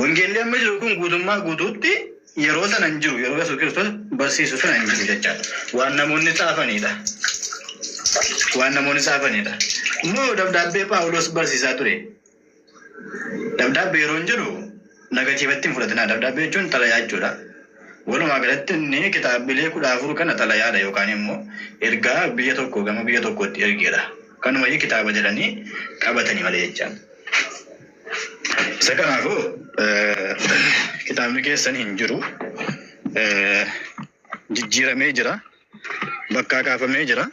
Wangeelli amma jiru kun guutummaa guutuutti yeroo sana hin jiru. Yeroo Yesuus Kiristoos barsiisu sana hin jiru jechaadha. Waan namoonni xaafaniidha. Waan namoonni xaafaniidha. Immoo dabdaabbee Phaawulos barsiisaa ture. Dabdaabbee yeroo hin jedhu nagatiivatti hin fudhatinaa. Dabdaabbee jechuun xalayaa jechuudha. Walumaa galatti inni kitaabilee kudha afur kana xalayaadha yookaan immoo ergaa biyya tokko gama biyya tokkootti ergeedha. Kanumayyuu kitaaba jedhanii qabatanii malee jechaadha. Isa kanaafuu kitaabni keessan hin jiru. Jijjiiramee jira. Bakkaa kaafamee jira.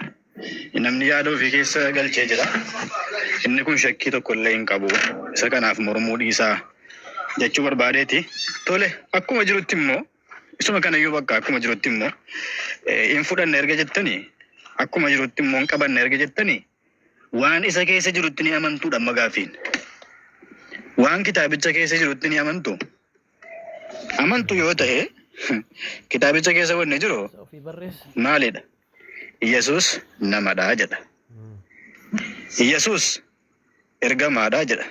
Namni yaada ofii keessa galchee jira. Inni kun shakkii tokko illee hin qabu. Isa kanaaf mormuu dhiisaa jechuu barbaadeeti. Tole akkuma jirutti immoo isuma kanayyuu bakka akkuma jirutti immoo hin fudhanne erga jettanii akkuma jirutti immoo hin qabanne erga jettanii Waan isa keessa jirutti ni amantuu dhamma gaaffiin? Waan kitaabicha keessa jirutti ni amantuu? Amantuu yoo ta'e kitaabicha keessa wanni jiru maalidha? Yesus namadha jedha. Yesus ergamaadha jedha.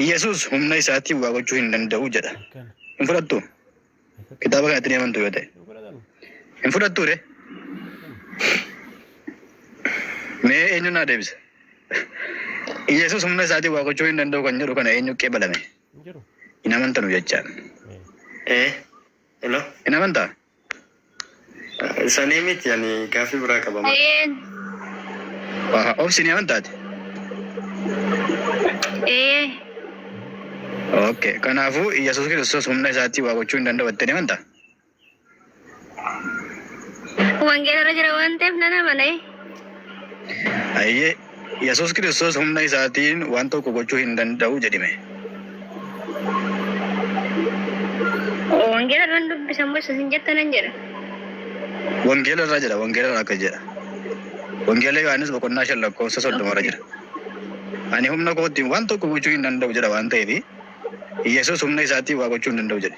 Yesus humna isaatiin waa gochuu hin danda'u jedha. Hin fudhattuu? Kitaaba kanatti ni amantu yoo ta'e. Hin fudhattuu ree? Mee eenyu naa deebisa? Yesuus humna isaatiin waa gochuu hin danda'u kan jedhu kana eenyu qeebalame? Hin amantanu jechaan. Ee. Hello. Hin amantaa? Sanii miti ani gaaffii biraa qaba. Eeyyeen. Aha, obsi ni amantaati. Eeyyee. Okay. Kanaafuu Yesuus Kiristoos humna isaatii waa gochuu hin danda'u jettee ni amantaa? Wangeelarra jira waan ta'eef nan amana. Ayyee Yesuus Kiristoos humna isaatiin waan tokko gochuu hin danda'u jedhime. Wangeela irran dubbisa mo isin jetta nan jedha? Wangeela irra jedha, wangeela irra akkas jedha. Wangeela Yohaannis boqonnaa 5 lakkoofsa 30 irra jira. Ani humna kootiin waan tokko gochuu hin danda'u jedha waan ta'eef Yesuus humna isaatiin waa gochuu hin danda'u jedhe.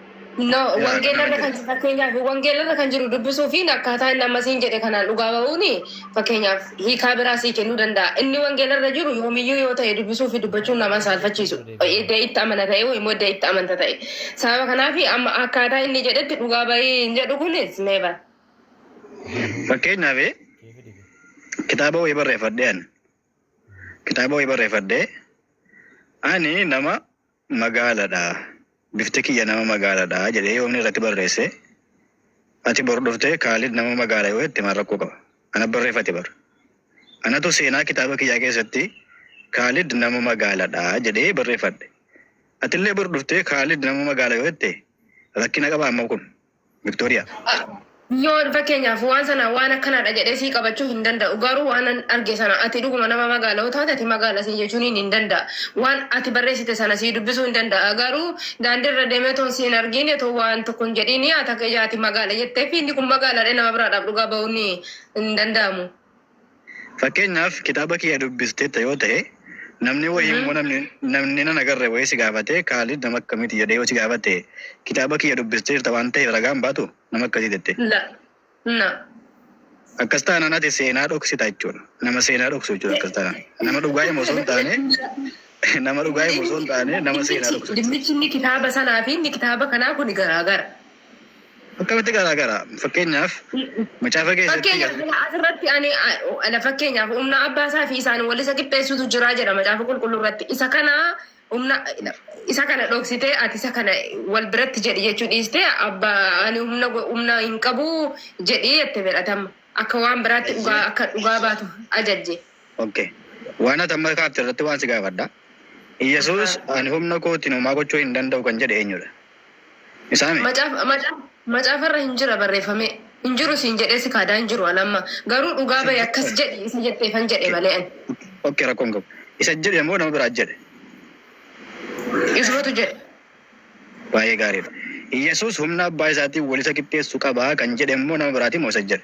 No, Yaa, wangeelarra kana kan fakkeenyaaf wangeelarra kan jiru dubbisuu fi akkaataa inni ammasiin jedhe kanaan dhugaa ba'uun fakkeenyaaf hiikaa biraa sii kennuu danda'a. Inni wangeelarra jiru yoomiyyuu yoo ta'e dubbisuu fi dubbachuun nama hin saalfachiisu. Edda itti amana ta'e yookiin immoo edda itti amanta ta'e. Sababa kanaaf amma akkaataa inni jedhetti dhugaa ba'ii hin jedhu kunis never. Fakkeenyaaf kitaaba wayii barreeffadhee ani. Kitaaba wayii barreeffadhee ani nama magaala dha, bifti kiyya nama magaala dha jedhee yoo inni irratti barreesse, ati bor dhuftee Kaalid nama magaala yoo jette maal rakkoo qaba? Ana barreeffate bar. Anatu seenaa kitaaba kiyyaa keessatti Kaalid nama magaala dha jedhee barreeffadhe. Atillee bor dhuftee Kaalid nama magaala yoo jette rakkina qaba amma kun? Victoria. Yoo fakkeenyaaf waan sana waan akkanaadha jedhee sii qabachuu hin danda'u garuu waanan arge sana ati dhuguma nama magaala yoo taate ati magaala siin jechuuniin hin danda'a. Waan ati barreessite sana sii dubbisuu hin danda'a garuu daandiirra deemee otoo si hin argiin otoo waan tokko hin jedhiin ati magaala jetteef inni kun magaalaadha nama biraadhaaf dhugaa ba'uun hin danda'amu. Fakkeenyaaf kitaaba kiyya dubbisteetta yoo tahe namni wayii Mhm. immoo namni namni nan agarre wayii si gaafatee Kaalid nama akkamiiti jedhee yoo si gaafate kitaaba kiyya dubbisteerta waan taheef ragaan baatu nama akkasii jette. La. La. Akkas taanaan ati seenaa dhoksita jechuudha. Nama seenaa dhoksu jechuudha akkas taanaan. Nama dhugaa himu osoo hin taane nama dhugaa himu osoo hin taane nama seenaa dhoksu jechuudha. Dhimmichi inni kitaaba sanaa fi inni kitaaba kanaa kun garaagara. Akkamitti garaa garaa? Fakkeenyaaf macaafa keessatti Fakkeenyaaf garaa sila asirratti ani a- ala fakkeenyaaf humna abbaa isaa fi isaan wal isa qixxeessutu jira jedha macaafa qulqulluu irratti isa kana humna isa kana dhoksitee ati isa kana wal biratti jedhi jechuu dhiistee abba ani humna go- humna hin qabu jedhi jette fedhatama akka waan biraatti dhugaa Eeyyee. akka dhugaa baatu ajajje. Okay. Waan ati amma kaafte irratti waan si gaafadha. Iyyasuus ani humna kootiin homaa gochuu hin danda'u kan jedhe eenyudha? Isaame. Macaafa macaafa macaafa irra hin jira barreeffamee hin jiru siin jedhee si kaadaa hin jiru an amma garuu dhugaa bahi akkas jedhi isa jetteefan jedhe malee ani. Ok rakkoo hin qabu. Isa jedhe moo nama biraa jedhe? Isumatu jedhe. Baay'ee gaariidha. Yesuus humna abbaa isaatiin wal isa qixxeessu qaba kan jedhe immoo nama biraatii moo isa jedhe?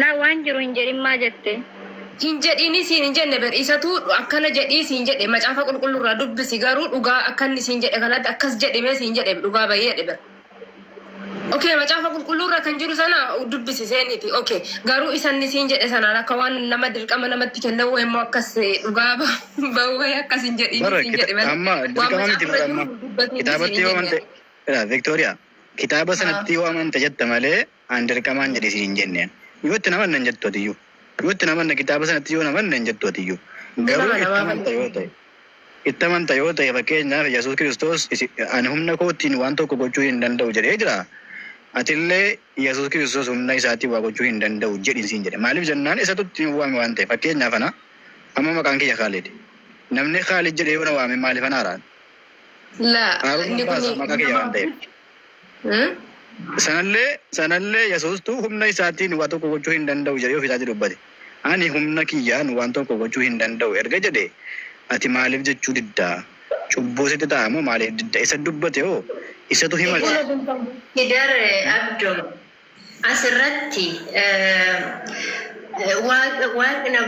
Laa waan jiru hin jedhin maa jette. Hin jedhini siin hin jenne bar isatu akkana jedhii siin jedhe macaafa qulqullu irraa dubbisi garuu dhugaa akka inni siin jedhe kanatti akkas jedhi mee siin jedhe dhugaa bahi jedhe bar ok macaafa qulqulluu irra kan jiru sana dubbisi seeniti ok garuu isa inni siin jedhe sanaan akka waan nama dirqama namatti kenne wayii immoo akkas dhugaa ba- bahu wayii akkas hin jedhini Bara siin jedhe kita- malee amma waan dirqama miti macaafa irra bara amma jiru dubbatiini siin kitaabatti hin yoo jenne. wanta Yaa, Victoria Kitaaba sanatti yoo amanta jetta malee an dirqamaan jedhi siin hin jenneen. Yoo itti hin amanne hin jettu atiyyuu. Yoo itti hin amanne kitaaba sanatti yoo hin amanne hin jettu atiyyuu. Garuu itti amanta yoo ta'e. Itti amanta yoo ta'e fakkeenyaaf Yesuus Kiristoos isi- ani humna kootiin waan tokko gochuu hin danda'u jedhee jira. Atillee Yesuus Kiristoos humna isaatiin waa gochuu hin danda'u jedhi siin jedhe. Maaliif jennaan isatu itti nu waame waan ta'eef. Fakkeenyaaf ana amma maqaan kiyya Kaalid. Namni Kaalid jedhee yoo na waame maaliif ana araan? La Haarun inni Abbaa kun isaa maqaa kiyya waan ta'eef. Hmm? Sanallee sanallee Yesuustuu humna isaatiin waa tokko gochuu hin danda'u jedhee ofii isaatii dubbate. Ani humna kiyyaan waan tokko gochuu hin danda'u erga jedhee ati maaliif jechuu didda? Cubbuu sitti ta'a moo maaliif didda? Isa dubbate hoo isatu himate. Hidar Abdo asirratti eh, waaq- waaqni